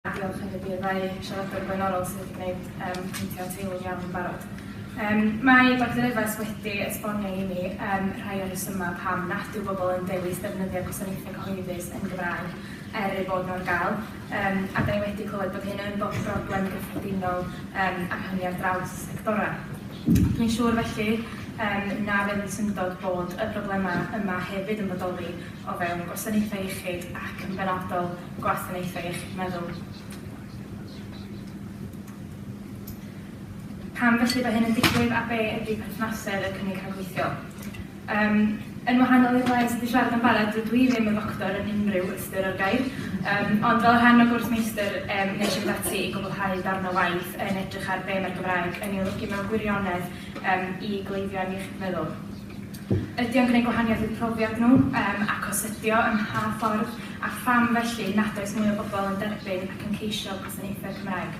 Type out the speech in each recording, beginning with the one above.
A diolch hefyd i'r ddau siaradwr blaenorol sydd wedi gwneud um, pwyntio at eilwng iawn yn barod. Um, mae Dr Evans wedi esbonio i mi um, rhai o'r rhesymau pam nad yw bobl yn dewis defnyddio gwasanaethau cyhoeddus yn Gymraeg er ei bod nhw'n gael, um, a da ni wedi clywed bod hyn yn bod broblem gyffredinol um, ar hynny ar draws y sectorau. Dwi'n siŵr felly um, na fydd yn syndod bod y broblemau yma hefyd yn bodoli o fewn gwasanaethau iechyd ac yn benodol gwasanaethau iechyd meddwl. Pam felly bod hyn yn digwydd a be ydy perthnasedd y cynnig rhagweithiol? Um, yn wahanol i'r rai sydd wedi siarad yn barod, dydw i ddim yn ddoctor yn unrhyw ystyr o'r gair, um, ond fel rhan o gwrs meistr, um, nes i ddati i gwblhau darn o waith yn edrych ar be mae'r Gymraeg yn ei olygu mewn gwirionedd um, i gleifion iechyd meddwl. Ydy o'n gwneud gwahaniaeth i'r profiad nhw yym ac os ydio, ym mha ffordd, a pham felly nad oes mwy o bobl yn derbyn ac yn ceisio gwasanaethau Cymraeg?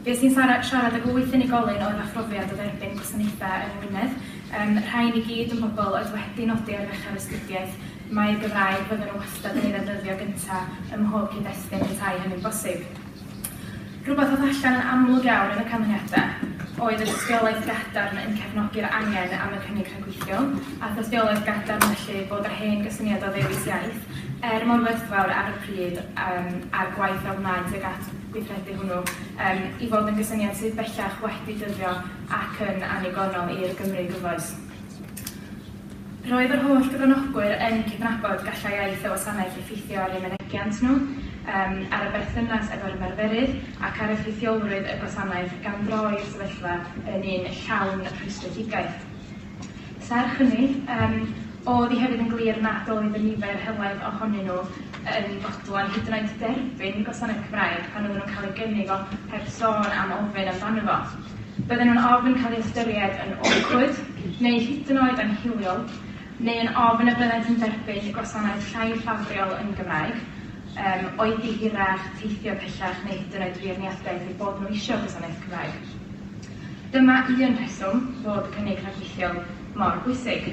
Fues i'n sara- siarad ag wyth unigolyn oedd â phrofiad o dderbyn gwasanaethau yng Ngwynedd, yym rhain i gyd yn bobl oedd wedi nodi ar ddechrau'r astudiaeth mai'r Gymraeg fydden nhw wastad yn ei ddefnyddio gyntaf ym mhob cyd-destun petai hynny'n bosib. Rhywbeth oedd allan yn amlwg iawn yn y canlyniadau oedd y dystiolaeth gadarn yn cefnogi'r angen am y cynnig rhyngweithiol, a'r dystiolaeth gadarn felly bod yr hen gysyniad o ddewis iaith, er mor werthfawr ar y pryd, um, a'r gwaith a wnaed tuag at gweithredu hwnnw, um, i fod yn gysyniad sydd bellach wedi dyddio ac yn annigonol i'r Gymru gyfoes. Roedd yr holl gyfranogwyr yn cydnabod gallai iaith y wasanaeth effeithio ar eu mynegiant nhw, ar y berthynas efo'r ymarferydd ac ar effeithiolrwydd y gwasanaeth gan droi'r sefyllfa yn un llawn rhwystredigaeth. Serch hynny, oedd hi hefyd yn glir nad oedd y nifer helaeth ohonyn nhw yn fodlon hyd yn oed derbyn gwasanaeth Cymraeg pan oedden nhw'n cael ei gynnig o heb sôn am ofyn amdano fo. Bydden nhw'n ofn cael eu hystyried yn awkward neu hyd yn oed anhiliol, neu yn ofn y byddent yn derbyn gwasanaeth llai ffafriol yn Gymraeg, um, oedi hirach, teithio pellach neu hyd yn oed feirniadaeth eu bod nhw eisiau gwasanaeth Cymraeg. Dyma un rheswm fod cynnig rhagweithiol mor bwysig.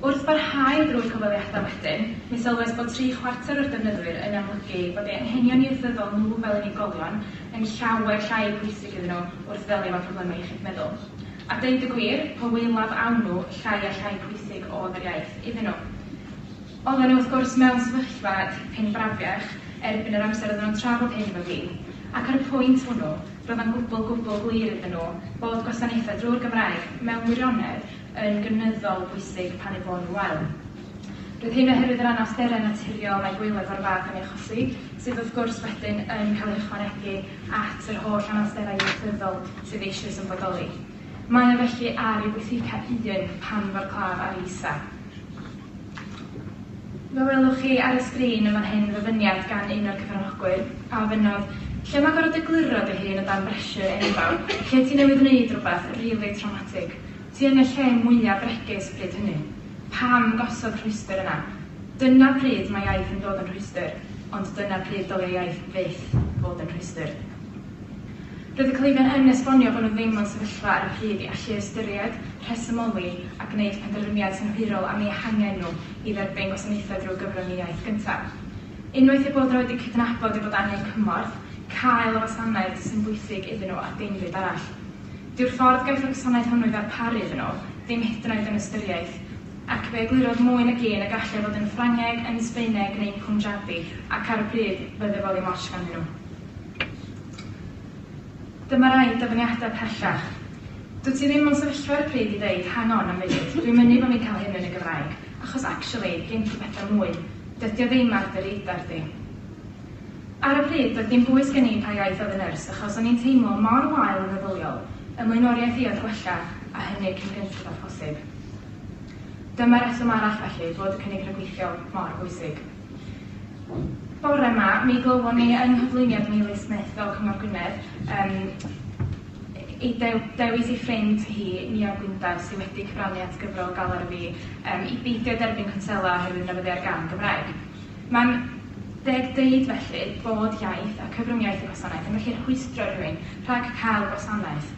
Wrth barhau drwy'r cyfweliadau wedyn, mi sylwes bod tri chwarter o'r defnyddwyr yn amlygu bod eu anghenion ieithyddol nhw fel unigolion yn llawer llai pwysig iddyn nhw wrth ddelio efo problemau iechyd meddwl. A deud y gwir, po waelaf awn nhw, llai a llai pwysig oedd yr iaith iddyn nhw. Oedden nhw wrth gwrs mewn sefyllfa dipyn brafiach erbyn yr amser oedden nhw'n trafod hyn efo fi, ac ar y pwynt hwnnw, roedd o'n gwbl, gwbl glir iddyn nhw bod gwasanaethau drwy'r Gymraeg mewn gwirionedd yn gynyddol bwysig pan eu bod nhw'n wael. Roedd hyn oherwydd yr anawsterau naturiol mae gwaelod o'r fath yn ei achosi, sydd wrth gwrs wedyn yn cael ei ychwanegu at yr holl anawsterau ieithyddol sydd eisoes yn bodoli. Mae o felly ar ei withika un pan fo'r claf ar ei isa. Fe welwch chi ar y sgrin yn fan hyn ddyfyniad gan un o'r cyfranogwyr, a ofynnodd, Lle mae gorfod egluro dy hun o dan bressure enfawr, lle ti newydd wneud rhywbeth really traumatic? Ti yn y lle mwya bregus bryd hynny. Pam gosod rhwystr yna? Dyna pryd mae iaith yn dod yn rhwystr, ond dyna pryd dylia iaith fyth fod yn rhwystr. Roedd y cleifion yn esbonio bod nhw ddim mewn sefyllfa ar y pryd i allu ystyried, rhesymoli a gwneud penderfyniad synhwyrol am eu hangen nhw i dderbyn gwasanaethau drwy gyfrwng y iaith gyntaf. Unwaith eu bod nhw wedi cydnabod eu bod angen cymorth, cael y wasanaeth sy'n bwysig iddyn nhw a dim byd arall. Dyw'r ffordd gaiff y gwasanaeth hwnnw ei ddarparu iddyn nhw ddim hyd yn oed yn ystyriaeth, ac fe eglurodd mwy nag un y gallai fod yn Ffrangeg, yn Sbaeneg neu'n Punjabi, ac ar y pryd, roedd efodd i'm ots ganddyn nhw. Dyma rai dyfyniadau pellach. Dwyt ti ddim mewn sefyllfa ar y pryd i ddeud, hang on, am funud, dwi'n mynnu bo' fi'n cael hyn yn y Gymraeg, achos actually, gen ti bethau mwy. Dydi o ddim ar dy radar di. Ar y pryd, doedd dim bwys gen i pa iaith oedd y nyrs, achos o'n i'n teimlo mor wael yn feddyliol, 'y mlaenoriaeth i oedd gwella, a hynny cyn gynted â phosib. Dyma reswm arall felly fod y cynnig rhagweithiol mor bwysig. Bore yma, mi glywon ni yng nghyflwyniad Meili Smith o Cyngor Gwynedd, um, ei dewis ei ffrind hi, Nia Gwyndaf, sydd wedi cyfrannu at gyfrol Galar y Fi, um, i beidio derbyn cwnsela oherwydd newyddiau'r gan Gymraeg. Mae'n deg dweud felly bod iaith a cyfrwng-iaith y gwasanaeth yn gallu rhwystro rhywun rhag cael gwasanaeth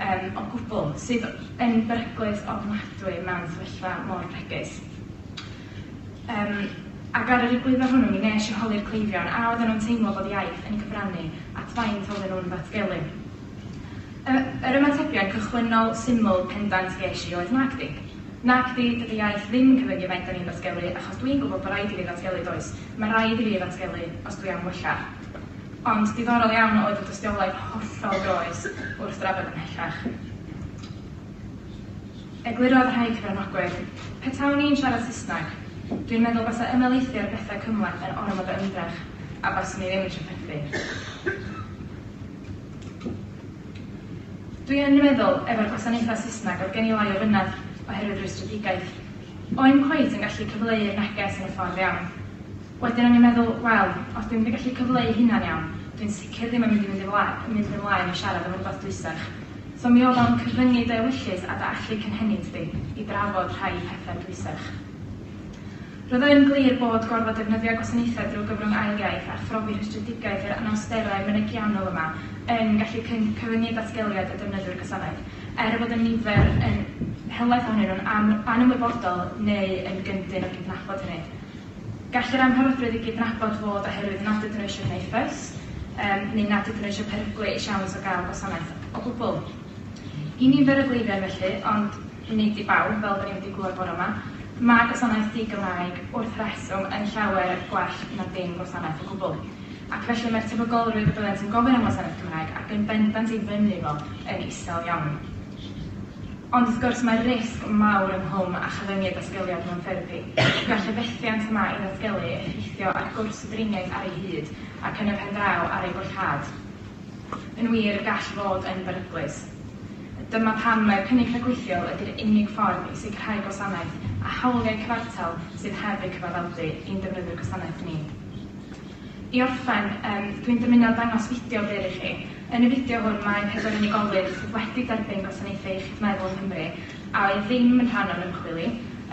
um, o gwbl, sydd yn beryglus ofnadwy mewn sefyllfa mor bregus. Um, ac ar yr egwyddor hwnnw, mi nes i holi'r cleifion a oedden nhw'n teimlo bod iaith yn cyfrannu at faint oedden nhw'n ddatgelu. Yr ymatebiad cychwynnol, syml, pendant ges i oedd Nagdi. Nagdi, dydy iaith ddim yn cyfyngu faint 'da ni'n ddatgelu, achos dwi'n gwybod bod raid i fi ddatgelu, does? Mae raid i fi ddatgelu os dwi am wella. Ond diddorol iawn oedd y dystiolaeth hollol groes wrth drafod ymhellach. Eglurodd rhai cyfranogwyr, Petawn i'n siarad Saesneg, dwi'n meddwl basa ymhelaethu ar bethau cymhleth yn ormod o ymdrech a baswn i ddim yn trafferthu. Dwi yn meddwl, efo'r gwasanaethau Saesneg, oedd gen i lai o fynedd oherwydd rwystredigaeth. O'im cweit yn gallu cyfleu'r neges yn y ffordd iawn. Wedyn o'n i'n meddwl, wel, os dwi'm wedi gallu cyfleu hynna'n iawn, dwi'n sicr ddim yn mynd i fynd i flaen, yn mynd ymlaen i siarad am rywbeth dwysach. So mi oedd o'n cyfyngu dy ewyllys a dy allu cynhenid di i drafod rhai pethau dwysach. Roedd yn glir bod gorfod defnyddio gwasanaethau drwy gyfrwng ail iaith a phrofi rhestredigaeth yr anawsterau mynegiannol yma yn gallu cyfyngu datgeliad y defnyddwyr gwasanaeth, er y bod y nifer yn helaeth ohonyn nhw'n anymwybodol neu yn gyndyn o gydnabod hynny. Gall yr amharodrwydd i gydnabod fod oherwydd nad ydyn nhw eisiau gwneud ffys neu nad ydyn nhw eisiau peryglu eu siawns o gael gwasanaeth o gwbl. I nifer o gleifion felly, ond. Nid i bawb, fel 'da ni wedi glywed bore 'ma. Mae gwasanaeth di-Gymraeg, wrth reswm, yn llawer gwell na dim gwasanaeth o gwbl. Ac felly mae'r tebygolrwydd y byddent yn gofyn am wasanaeth Cymraeg, ac yn bendant ei fynnu fo, yn isel iawn. Ond wrth gwrs, mae risg mawr yng nghwm a chyfyngu datgeliad mewn therapi. Gall y fethiant y mae i ddatgelu effeithio ar gwrs y driniaeth ar ei hyd, ac yn y pen draw, ar ei bollhad. Yn wir, y gall fod yn beryglus. Dyma pam mai'r cynnig rhagweithiol ydy'r unig ffordd i sicrhau gwasanaeth a hawliau cyfartal sydd heb eu cyfaddawdu i'n defnyddwyr gwasanaeth ni. I orffen, yym, dwi'n dymuno dangos fideo byr i chi. Yn y fideo hwn mae pedwar unigolyn sydd wedi derbyn gwasanaethau iechyd meddwl yng Nghymru a oedd ddim yn rhan o'r ymchwil i,